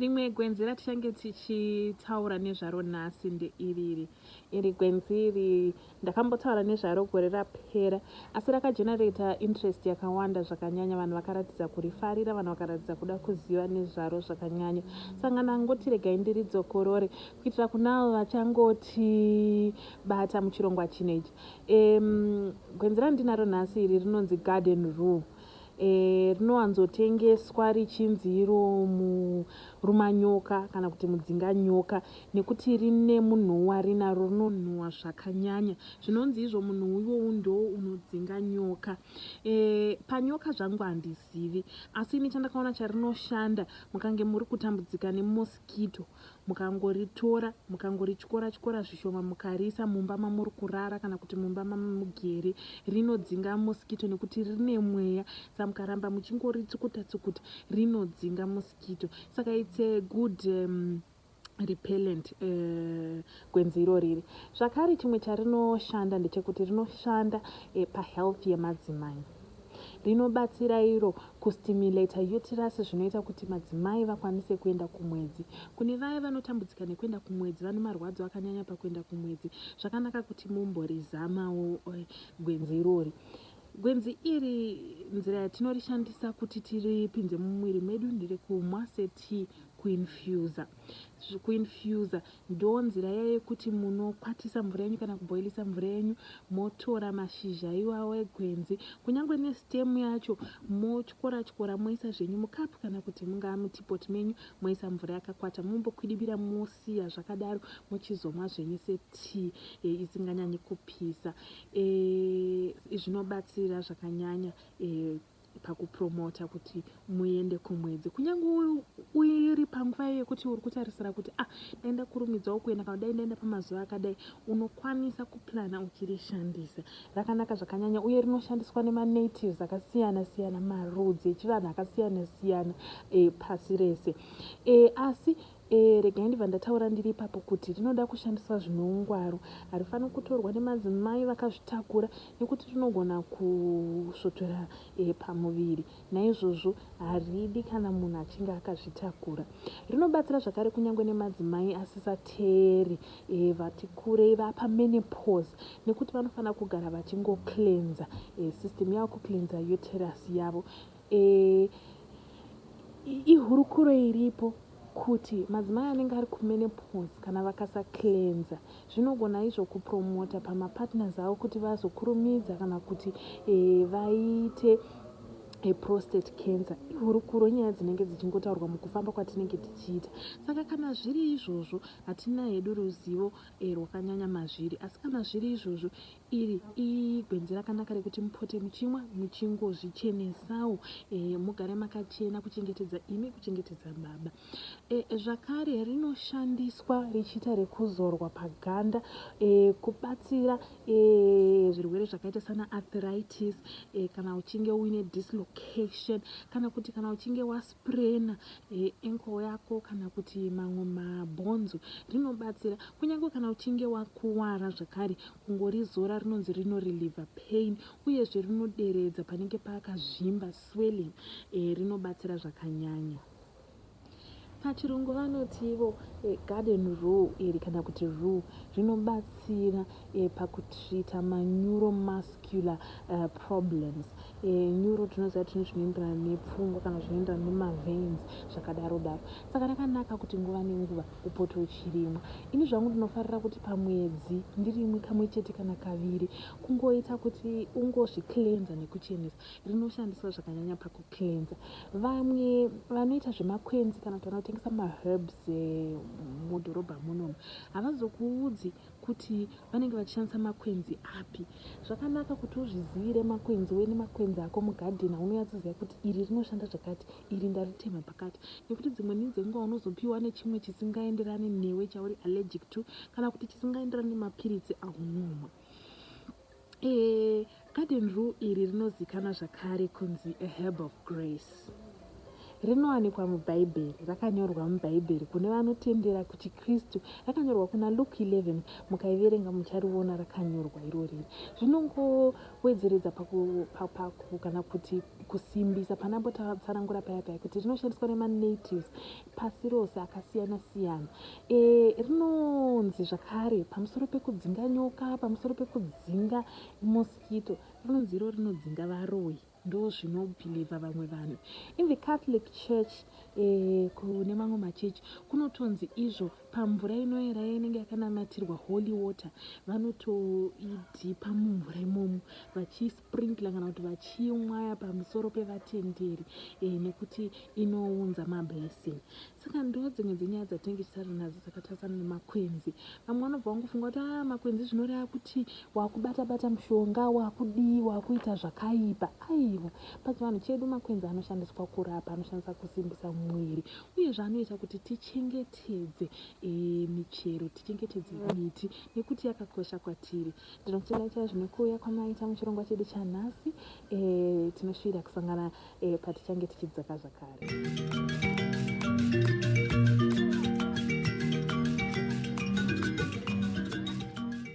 rimwe gwenzi ratichange tichitaura nezvaro nhasi ndeiriri iri gwenzi iri ndakambotaura nezvaro gore rapera asi rakagenerata interest yakawanda zvakanyanya vanhu vakaratidza kurifarira vanhu vakaratidza kuda kuziva nezvaro zvakanyanya sangana ngoti regai ndiridzokorore Kuitira kuneavo vachangoti bata muchirongwa chino ichi, um, gwenzi randinaro nhasi iri rinonzi garden rue. E, rinowanzotengeswa richinzi iro murumanyoka kana kuti mudzinga nyoka nekuti rine munhuwi warinaro rinonhuwa zvakanyanya zvinonzi izvo munhuwi iwowu ndoo unodzinga nyoka. E, panyoka zvangu handizivi asi ini chandakaona charinoshanda mukange muri kutambudzika nemosquito mukangoritora mukangorityora tyora zvishoma mukariisa mumba mamuri kurara kana kuti mumba mamugere rinodzinga mosquito nekuti rine mweya sa mukaramba muchingoritsukuta tsukuta rinodzinga mosquito saka its a good um, repellent uh, Gwenzi iro riri zvakare chimwe charinoshanda ndechekuti rinoshanda pa health yemadzimai. Rinobatsira iro ku stimulator uterus zvinoita kuti madzimai vakwanise kuenda kumwedzi. Kune vaya vanotambudzika nekuenda kumwedzi vane marwadzo akanyanya pakuenda kumwedzi zvakanaka kuti mumborizamawo gwenzi irori. Gwenzi iri nzira yatinorishandisa kuti tiripinze mumwiri medu nderekumwa se tea kuinfuser. Zve ku infuser ndoo nzira iya yekuti muno kwatisa mvura yenyu kana kuboilisa mvura yenyu motora mashizha iwawo egwenzi kunyangwe ne stem yacho motyora tyora moisa zvenyu mu cup kana kuti mungaa mu tea pot menyu moisa mvura yakakwata mombo kwidibira mosiya zvakadaro mochizomwa zvenyu se tea e, isinganyanyi kupisa e, zvinobatsira zvakanyanya e, pakupromota kuti muende kumwedzi kunyange uiri panguva iyo yekuti uri kutarisira kuti ah dai ndakurumidzawo kuenda kana dai ndaenda pamazuva akadai unokwanisa kuplana uchirishandisa rakanaka zvakanyanya uye rinoshandiswa nemanatives akasiyana siyana marudzi echivanhu akasiyana siyana e, pasi rese e, asi Ehe, regai ndibva ndataura ndiri ipapo kuti rinoda kushandiswa zvine ungwaru. Harifaniri kutorwa nemadzimai vakazvitakura nekuti rinogona kusvotora pamuviri naizvozvo haridi kana munhu achinge akazvitakura. Rinobatsira zvakare kunyange nemadzimai asisateeri vati kurei vapa menopause nekuti vanofanira kugara vachingo cleanser system yavo, kucleanser uterus yavo. Eeh ihurukuro iripo kuti madzimai anenge ari kumenopause kana vakasa cleanser zvinogona izvo kupromota pamapartners avo kuti vazokurumidza kana kuti eh, vaite eh, prostate cancer ihurukuro nyaya dzinenge dzichingotaurwa mukufamba kwatinenge tichiita saka kana zviri izvozvo hatina hedu ruzivo eh, rwakanyanya mazviri asi kana zviri izvozvo Iri igwenzi rakanaka rekuti mupote muchimwa muchingozvichenesawo e, mugare makachena kuchengetedza imi kuchengetedza baba e, zvakare rinoshandiswa richiita rekuzorwa paganda e, kubatsira e, zvirwere zvakaita sana arthritis e, kana uchinge uine dislocation kana kuti kana uchinge was Brain, ankle yako kana kuti mamwe mabhonzo rinobatsira kunyange kana uchinge wakuvara zvakare kungorizora rinonzi rinoreliever pain uyezve rinoderedza panenge pakazvimba swelling e, rinobatsira zvakanyanya. Pachirungu vanoti ivo e, garden rue iri kana kuti rue rinobatsira e, pakutreater ma neuromuscular uh, problems e, neuro tinoziva tine zvinoenderana nepfungwa kana zvinoenderana nemaveins zvakadaro daro saka rakanaka kuti nguva nenguva upote uchirimwa ini zvangu ndinofarira kuti pamwedzi ndirimwe kamwe chete kana kaviri kungoita kuti ungozviclenza nekuchenesa rinoshandiswa zvakanyanya pakuclenza vamwe vanoita zvemakwenzi kana kuti vanotengesa maherbs e, mudhorobha munomu havazokuudzi kuti vanenge vachishandisa makwenzi api zvakanaka kuti uzvizivire makwenzi uye nemakwenzi ako mugadheni aunonyatsoziva kuti iri rinoshanda zvakati iri ndaritema pakati nekuti dzimwe ni dzenguva unozopiwa nechimwe chisingaenderani newe chauri allergic to kana kuti chisingaenderani nemapiritsi aunomwa Garden rue iri rinozikanwa zvakare kunzi a herb of grace. Rinowanikwa muBhaibheri. Rakanyorwa muBhaibheri kune vanotendera kuchiKristu. Rakanyorwa kuna Luke 11. Mukaiverenga muchariona rakanyorwa irori. Rinongowedzeredza paku kana kuti kusimbisa panambo tatsanangura paya paya kuti rinoshandiswa nemanatives. pasi rose akasiyana siyana e, rinonzi zvakare pamusoro pekudzinga nyoka pamusoro pekudzinga mosquito rinonzi iro rinodzinga varoyi ndo zvinobhilivha vamwe vanhu in the catholic church e, kune mamwe machechi kunotonzi izvo pamvura inoera inenge yakanamatirwa holy water vanotoidhipa mumvura imomo vachis sprinkler kana kuti vachimwaya pamusoro pevatenderi eh, nekuti inounza mablessing saka ndo dzimwe dzenyaya dzatinenge tichitaura nadzo dzakatarisana nemakwenzi vamwe vanobva vangofunga kuti a ah, makwenzi zvinoreva kuti wakubata bata mushonga wakudii wakuita zvakaipa aiwa pachivanhu chedu makwenzi anoshandiswa kurapa anoshandisa kusimbisa mwiri uyezve anoita kuti tichengetedze eh, michero tichengetedze miti nekuti yakakosha kwatiri Ndinotenda chaizvo nekuuya kwamaita muchirongwa chedu chanhasi. E, tinoshuvira kusangana e, patichange tichidzaka zvakare.